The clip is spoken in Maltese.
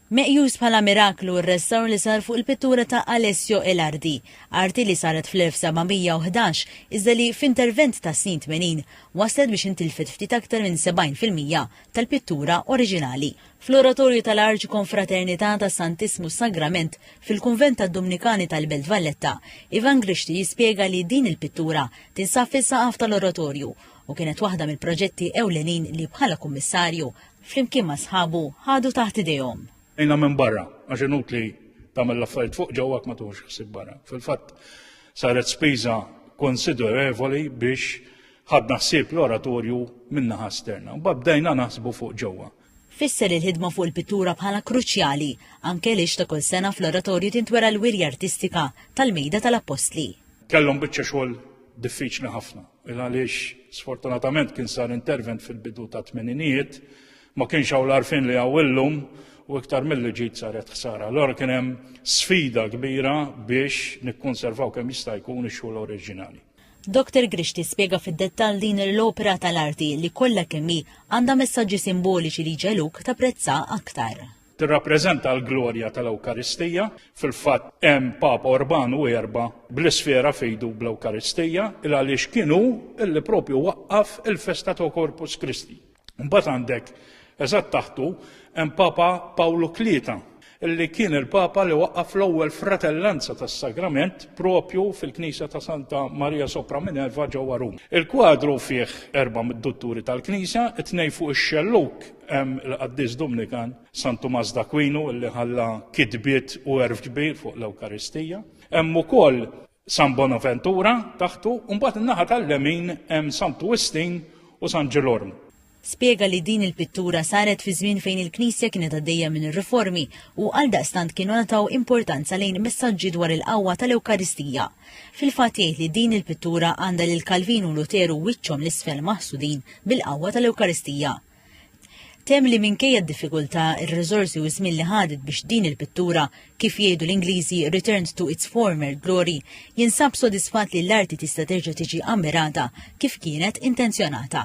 Meqjus bħala miraklu r-restawr li sar fuq il-pittura ta' Alessio Elardi, arti li saret fl-1711 iżda li, f'intervent tas-snin tmenin, wasslet biex intilfet ftit aktar minn 70 fil-mija tal-pittura oriġinali. Fl-Oratorju tal-Arċikonfraternità tas-Santissmu Sagrament fil-Kunvent tad-Dumnikani tal-Belt Valletta, Ivan Grixti jispjega li din il-pittura tinsab fis-saqaf tal-Oratorju u kienet waħda mill-proġetti ewlenin li bħala Kummissarju flimkien ma' sħabu, ħadu taħt idejhom. Għinha minn barra, għax inutli tagħmel l-affarijiet fuq ġewwa jekk ma tieħux ħsieb barra. Fil-fatt saret spiża konsiderevoli biex ħadna ħsieb l-oratorju min-naħa esterna. Mbagħad bdejna naħsbu fuq ġewwa. Fisser il-ħidma fuq il-pittura bħala kruċjali, anke għaliex ta' kull sena fl-oratorju tintwera l-wirja artistika tal-Mejda tal-Appostli. Kellhom biċċa xogħol diffiċli ħafna. Minn għaliex sfortunatament kien sar intervent fil-bidu ta' tmeninijiet, ma kienx hawn l-arfin li hawn illum u iktar milli ġid saret ħsara. Allora kien hemm sfida kbira biex nikkonservaw kemm jista' jkun ix-xogħol oriġinali. Doktor Grixti spjega fid-dettall din l-opera tal-arti li kollha kemm hi għandha messaġġi simboliċi li jġegħluk tapprezzha aktar. tirrappreżenta l-glorja tal-Ewkaristija. Fil-fatt hemm Papa Urban u erba' bl-isfera fejdu bl-Ewkaristija il għaliex kienu illi propju waqqaf il-festa ta' Corpus Christi. Mbagħad għandek eżatt taħtu hemm Papa Pawlu Tlieta illi kien il-Papa li waqqaf l-ewwel fratellanza tas-Sagrament propju fil-Knisja ta' Santa Maria Sopra Minerva ġewwa Rum. Il-kwadru fih erba' mid-dutturi tal-Knisja, it-tnej fuq ix-xelluk Hemm il-Qaddis Dumnikan San Tumas d'Akwinu li ħalla kitbiet u erf kbir fuq l-Ewkaristija. Hemm ukoll San Bonaventura taħtu, u mbagħad in-naħa tal-lemin hemm San Twistin u San Ġilorm. Spjega li din il-pittura saret fi żmien fejn il-Knisja kienet għaddejja minn ir-riformi u għaldaqstant kienu ngħataw importanza lejn messaġġi dwar il-qawwa tal-Ewkaristija. Fil-fatt jgħid li din il-pittura għandha lil Kalvin u Luteru wiċċhom l-isfel maħsudin bil-qawwa tal-Ewkaristija. Temm li minkejja d-diffikultà, ir-riżorsi u ż-żmien li ħadet biex din il-pittura, kif jgħidu l-Ingliżi returned to its former glory, jinsab sodisfatt li l-arti tista' terġa' tiġi ammirata kif kienet intenzjonata.